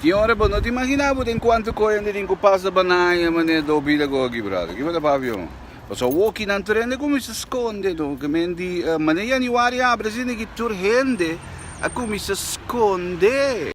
Tin ora bo no ta imaginá bo den kuantu koyandi tin ku pasa banaña manera do bida ku aki brada. Kiba ta papia bo? Paso a woki nan tur hende kuminsá skonde no. Kemen di manera Januari a habri asina aki tur hende a kuminsá skonde.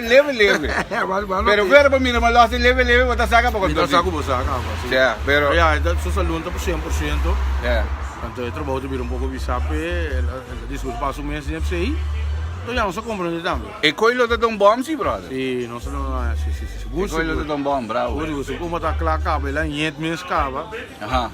Leve leve. Pero fuera pa mira malos así leve leve bo ta saca pa control. Mi ta saca cu bo saca aba sí. Ya, pero. Ya, e ta su salun ta por cien por ciento. Ya. Anto e trabajo ta bira un poco visa p'e, e ta disculpa pa su mes di nepsey. Anto ya nos a comprende tambe. E coi lo ta don bom sí, brother. Sí, nos a don, sí, sí, sí. Gusto, gusto. E coi lo ta don bom, bravo. Gusto, gusto. Como ta cla caba, e la niet mes caba. Aha.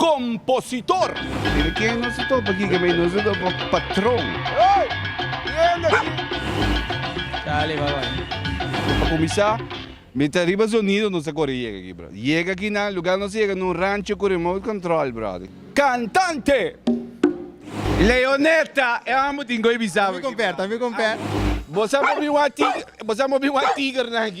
Compositor. Pero ken nos a topa aki kibay? Nos a topa patron. Charly va bay. Pa cuminsa mi ta riba sonido nos a core yega aki brother. Yega aki na lugar nos a yega na un rancho cu remote control brother. Cantante. Leonetta e amo tin goe bisa. Ami comperta ami comperta. Bo sa mobi wan tiger nan aki.